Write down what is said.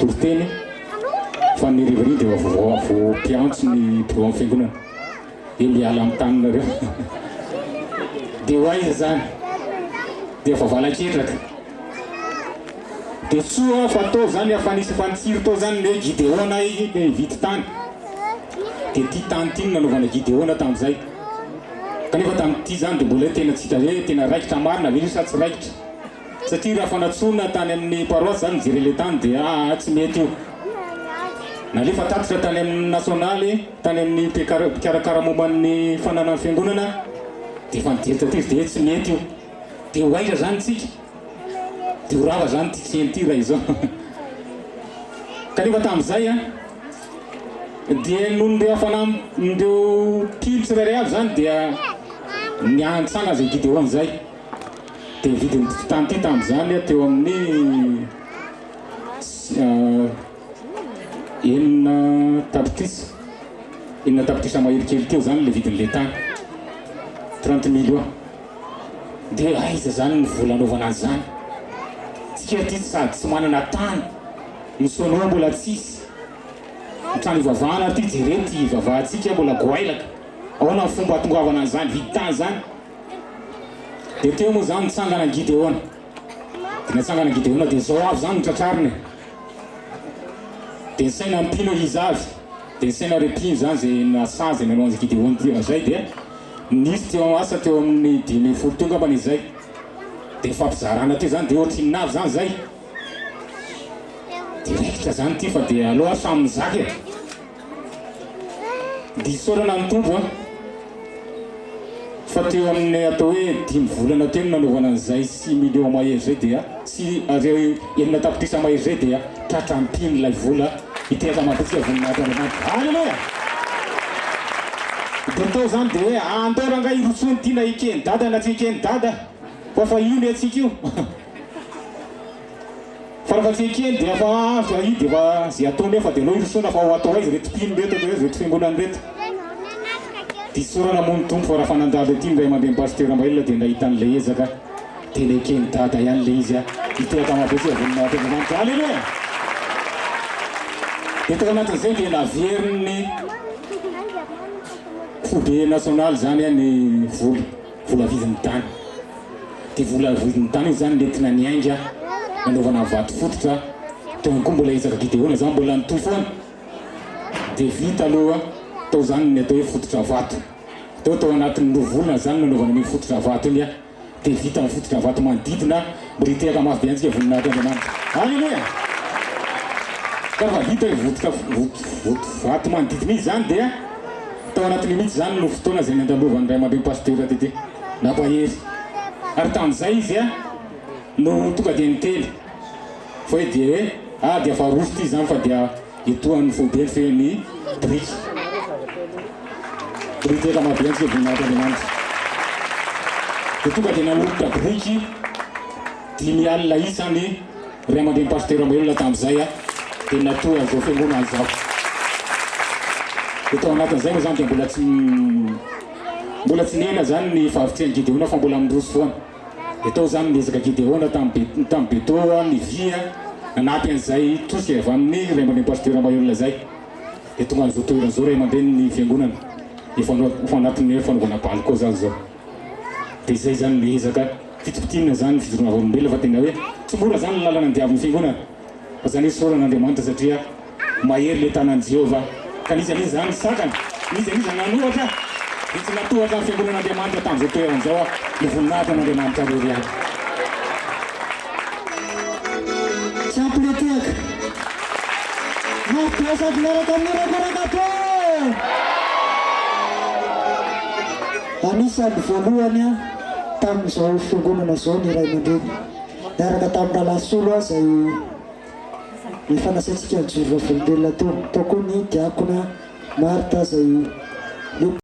Toriteny fa ny rivariva dia vao mpiantso ny mpilohan'ny fiangonana dia miala amin'ny taninareo dia ho aiza izany dia efa valan-ketraka dia soa fa tao izany efa nisy efa nitsiry tao izany ny hoe gideona izy dia nividy tany dia ity tany ity no nanaovana gideona tamin'izay kanefa tamin'ity izany dia mbola tena tsy hita hoe tena raikitra marina ve sa tsy raikitra Satria raha fanatsoina tany amin'ny paroasy izany ny Jerele tany dia aa tsy mety io. Nalefa tatitra tany amin'ny nasionaly, tany amin'ny mpikarakara momba ny fananan'ny fiangonana dia efa nijery taty izy dia hoe tsy mety io. Dia ho aiza izany isika? Dia ho rava izany ity tsena ity raha izao. Kanefa tamin'izay an, dia noho ny ireo hafanam, ny ireo mpino tsirairay avy izany dia niantsana an'izay Gideona izay. Dia ny vidin'ity tany ity tamin'izany dia teo amin'ny enina tapitrisa, enina tapitrisa mahery kely teo izany ilay vidin'ilay tany, trente millions. Dia aiza izany ny vola anaovana an'izany? Isika aty sady tsy manana tany, ny sonoa mbola tsisy, ny trano hivavahana aty jereo ity hivavahantsika mbola goailaka, ahoana ny fomba hahatongavanana an'izany vidin-tany izany? Dia teo moa izany nitsangana an'i Gideona. Dia natsangana an'i Gideona dia izao avy izany ny tratrariny. Dia nisaina mpino izy avy. Dia nisaina ireo mpino izany izay nasazy nanao an'i Gideona teo. Izay dia nisy teo amin'ny asa teo amin'ny dimy ambin'ny folo teo angambany izay. Dia fampizarana teo izany dia ohatry inona avy izany izay. Dia raikitra izany ity fa dia aleo aho samy mizaka e. Diso toerana ny tompoko an! Fa teo amin'ny atao hoe dimy volana teo no nanaovana an'izay six millions mahery izay dia sy ariary enina tapitrisa mahery izay dia tratra am-piny ilay vola ity ankamaroantsika voninahitra Andriamanitra. Aleloia! Dia tao izany dia hoe andao rangahy hirosoana ity na eken'i dada na tsy eken'i dada fa fa io ny antsika io. Farafaha tsy ekeny dia efa avy ahy dia efa ze atao nefa dia aleo hirosoana fa ho atao aiza ireto mpino ireto atao aiza ireto fiangonana ireto. Diso isaorana moa ny Tompo fa raha fa nandalo ety ny ray aman-dreny Pasteur Rambaila dia nahita an'ilay ezaka tena eken'i Dada ihany ilay izy ah. Hitohy hatramin'ny habetsiky ny voninahitry Andriamanitra. Aleloia! Dia tao anatin'izay dia naverin'ny foibe nasionaly izany ny vola. Vola vidin'ny tany. Ity vola vidin'ny tany ity zany nentina niainga nanaovana vato fototra teo koa mbola ezaka Gideona zany mbola nitohy foana dia vita aloha tao zany ny atao hoe fototra vato teo tao anatin'ny roa volana zany nanaovana an'io fototra vato iny dia vita ny fototra vato manodidina Mba hitehaka mafy be antsika voninahitr' Andriamanitra. Aleloia! Ka fa vita io votoka voto vato manodidina io izany dia tao anatin'io mihitsy izany no fotoana izay nandalovan'ny ray aman-dren'i Pasteur Tete nampahery. Ary tamin'izay izy dia no tonga dia niteny fa hoe dia hoe ah dia faharoso ity izany fa dia Etoan'ny foibe mifehy ny biriky. Biriky efa maventy ny voninahit'Andriamanitra. Dia tonga dia nanolotra biriky dimy alina isa ny ray aman-drenin'i Pasitera Mamelona tamin'izay, dia natory an'izao fiangonana izao. Dia tao anatin'izay moa izany dia mbola tsy mbola tsy nihena izany ny fahavitrihan'i Gideona fa mbola miroso foana. Dia tao izany ny ezaka Gideona tamin'ny tamin'ny Betoa, ny via, nanampy an'izay tosika avy amin'ny ray aman-dreny pasitera mahay olona izay. Dia tonga an'izao toerana izao ray aman-dreny ny fiangonana. Efa efa anatin'ny hoe fanaovana bal koa izany izao. Dia izay izany ny ezaka fitopitiana izany ny fijoroana vavolombelona fa tena hoe tsy mora izany ny lalana ny diavin'ny fiangonana. Aza aneso orana Andriamanitra satria mahery ilay tanan'i Jehovah, ka nisy an'iza izany nisakana, nisy an'iza nanohatra, dia tsy natohatra ny fiangonan'Andriamanitra tamin'izao toerana izao aho, ny voninahitr'Andriamanitra irery ihany. Tsy ampy le tehaka. Mafy be sady miaraka amin'ny orako anak'Atra e! Anisan'ny voalohany tamin'izao fiangonana izao ny ray aman-dreny. Niaraka tamin'i Ralasolo aho izay efa nasaintsika nijoro vavolombelona teo. Tao koa ny diakona Martha izay nety.